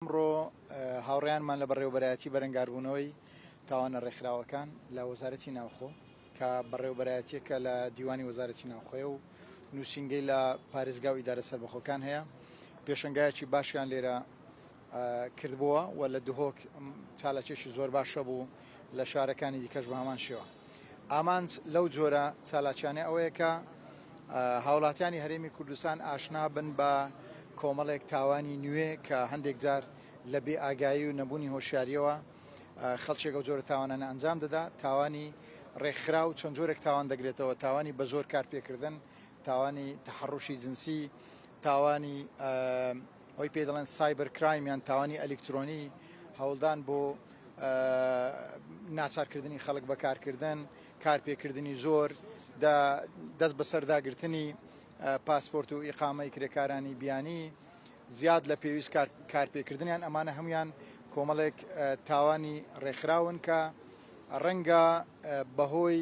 ئەمڕۆ هاوڕێیانمان لە بەڕێوەبەرایەتی بەرەنگاربوونەوەی تاوانە ڕێکخراوەکان لە وەزارەتی ناوخۆ کە بەڕێوەبەرایەتییەکە لە دیوانی وەزارەتی ناوخۆیە و نووسینگەی لە پارێزگا و ئیدارە سەربەخۆکان هەیە پێشەنگایەکی باشیان لێرە کردبووە و لە دهۆک چالاکیەکی زۆر باشە بوو لە شارەکانی دیکەش بە هەمان شێوە. ئامانج لەو جۆرە چالاکیانە ئەوەیە کە هاوڵاتیانی هەرێمی کوردستان ئاشنا بن بە کۆمەڵێک تاوانی نوێ کە هەندێک جار لە بێ ئاگایی و نەبوونی هۆشیاریەوە خەڵکێک ئەو جۆرە تاوانانە ئەنجام دەدا تاوانی ڕێکخرا و چەند جۆرێک تاوان دەگرێتەوە تاوانی بە زۆر کارپێکردن تاوانی تحڕوشی جنسی تاوانی ئەوەی پێی دەڵێن سایبەر کرایم یان تاوانی ئەلیکترۆنی هەوڵدان بۆ ناچارکردنی خەڵک بەکارکردن کارپێکردنی زۆر دەست بەسەرداگرتنی پاسپۆرت و ئیقامەی کرێکارانی بیانی زیاد لە پێویست کارپێکردنیان ئەمانە هەمویان کۆمەڵێک تاوانی ڕێکخراون کە ڕەنگە بەهۆی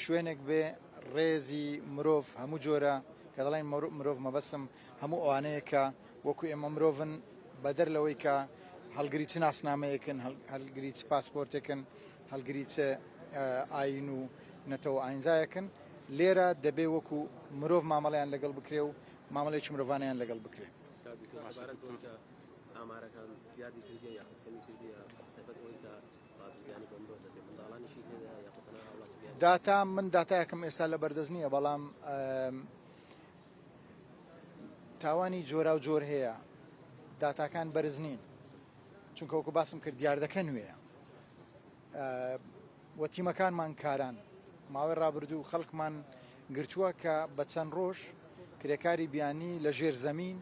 شوێنێک بێ ڕێزی مرۆڤ هەموو جۆرە کە دەڵێن مرۆڤ مەبەستم هەموو ئەوانەیە کە وەکو ئێمە مرۆڤن بەدەر لەوەی کە هەڵگری چ ناسنامەیەکن هەلگری چ پاسپۆرتێکن هەلگری چ ئاین و نەتەوە ئاینزایەکن لێرە دەبێ وەکو مرۆڤ مامەڵیان لەگەڵ بکرێ و مامەڵێکی مرۆڤانیان لەگەڵ بکرێ ئامارەکان زیادی کردیە یا کەمی کردیە دەبێت ئەوەی کە داتا من داتایەکم ئێستا لە بەردەست نییە بەڵام تاوانی جۆرا و جۆر هەیە داتاکان بەرز نین چونکە وەکو باسم کرد دیاردەکە نوێە وە تیمەکانمان کاران ماوەی ڕابردوو خەڵکمان گرتووە کە بە چەند ڕۆژ کرێکاری بیانی لە ژێر زەمین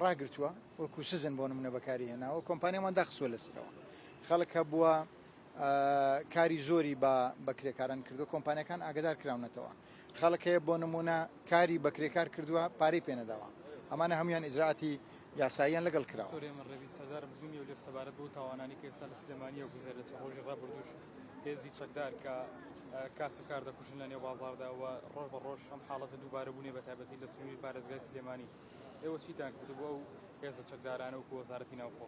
ڕاگرتووە وەکو سزن بۆ نمونە بەکاری هێناوە کۆمپانیامان داخستوە لەسەرەوە خەڵک هەبووە کاری زۆری بە بەکرێکاران کردو کۆمپانیەکان ئاگدار کراونەتەوە خەڵک هەیە بۆ نمونە کاری بەکرێکار کردووە پارەی پێنەداوە ئەمانە هەموان ئیزراعاتی یاساییان لەگەڵ کراوە سەبارەت بۆ تاوانانی کە ئێستا لە سلێمانیە گوزارێت ڕۆژی ڕابردوش هێزی چەکدار کە کاسب کار دەکوژن لە نێو بازاردا و ڕۆژ بە ڕۆژ ئەم حاڵەتە دووبارە بوونێ بە تایبەتی لە سنووری پارێزگای سلێمانی ئێوە چیتان کردبوو ئەو هێزە چەکدارانە و وەزارەتی ناوخۆ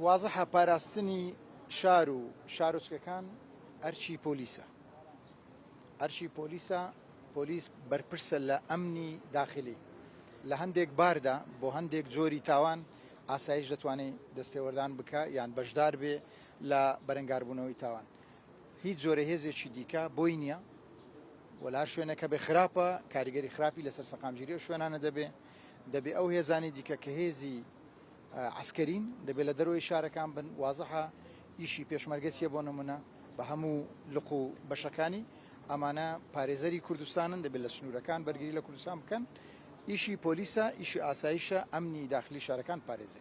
وازحە پاراستنی شار و شارۆچکەکان ئەرچی پۆلیسە ئەرچی پۆلیسە پۆلیس بەرپرسە لە ئەمنی داخلی لە هەندێک باردا بۆ هەندێک جۆری تاوان ئاسایش دەتوانێت دەستێوەردان بکە یان بەشدار بێ لە بەرەنگاربوونەوەی تاوان هیچ جۆرە هێزێکی دیکە بۆی نییە و لە هەر شوێنێکە بێ خراپە کاریگەری خراپی لەسەر سەقامگیری و شوێنانە دەبێ دەبێ ئەو هێزانی دیکە کە هێزی عسکەرین دەبێت لە دەرەوەی شارەکان بن وازەها ئیشی پێشمەرگە چیە بۆ نمونە بە هەموو لق و بەشەکانی ئەمانە پارێزەری کوردستانن دەبێت لە سنوورەکان بەرگری لە کوردستان بکەن ئیشی پۆلیسە ئیشی ئاسایشە ئەمنی داخلی شارەکان پارێزی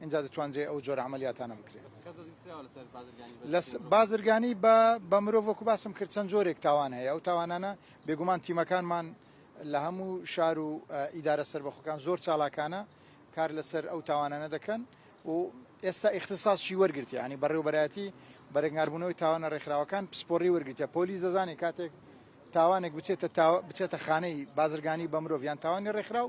ئینجا دەتوانرێت ئەو جۆرە عەمەلیاتانە بکرێت. کەس دەستگیر کراوە لەسەر بازرگانی بە جۆرێک؟ لە بازرگانی بە بە مرۆڤ وەکو باسم کرد چەند جۆرێک تاوان هەیە ئەو تاوانانە بێگومان تیمەکانمان لە هەموو شار و ئیدارە سەربەخۆکان زۆر چالاکانە کار لەسەر ئەو تاوانانە دەکەن و ئێستا ئیختیساسشی وەرگرتیە یانی بەڕێوەبەرایەتی بەرەنگاربوونەوەی تاوانە ڕێکخراوەکان پسپۆڕی وەرگرتیە پۆلیس دەزانێت کاتێک تاوانێک بچێتە تاوە بچێتە خانەی بازرگانی بە مرۆڤ یان تاوانی ڕێکخراو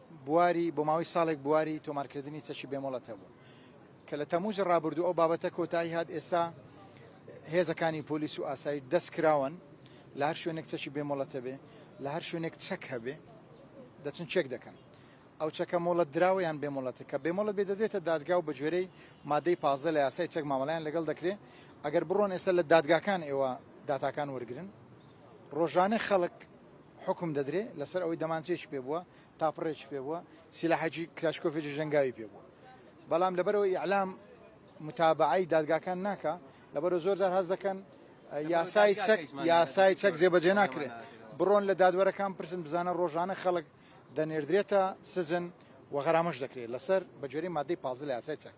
بواری بۆ ماوەی ساڵێک بواری تۆمارکردنی چەکی بێمۆڵەت هەبوو کە لە تەمووزی ڕابردوو ئەو بابەتە کۆتایی هات ئێستا هێزەکانی پۆلیس و ئاسایش دەست کراوەن لە هەر شوێنێک چەکی بێمۆڵەت هەبێ لە هەر شوێنێک چەک هەبێ دەچن چێک دەکەن ئەو چەکە مۆڵەت دراوەیان بێمۆڵەتە کە بێمۆڵەت بێ دەدرێتە دادگا و بە گوێرەی مادەی پازدە لە یاسای چەک مامەڵیان لەگەڵ دەکرێت ئەگەر بڕۆن ئێستا لە دادگاکان ئێوە داتاکان وەرگن ڕۆژانە خەڵک حوکم دەدرێ لەسەر ئەوەی دەمانچەیەکی پێ بووە، تاپڕێکی پێ بووە، سیلاحێکی کلاشکۆفێکی ژەنگاوی پێ بووە. بەڵام لەبەرئەوەی ئیعلام موتابەعەی دادگاکان ناکا، لەبەرئەوە زۆر جار هەست دەکەن یاسای چەک یاسای چەک جێبەجێ ناکرێ. بڕۆن لە دادوەرەکان بپرسن بزانە ڕۆژانە خەڵک دەنێردرێتە سجن و غەرامەش دەکرێ لەسەر بە گوێرەی مادەی پازدە لە یاسای چەک.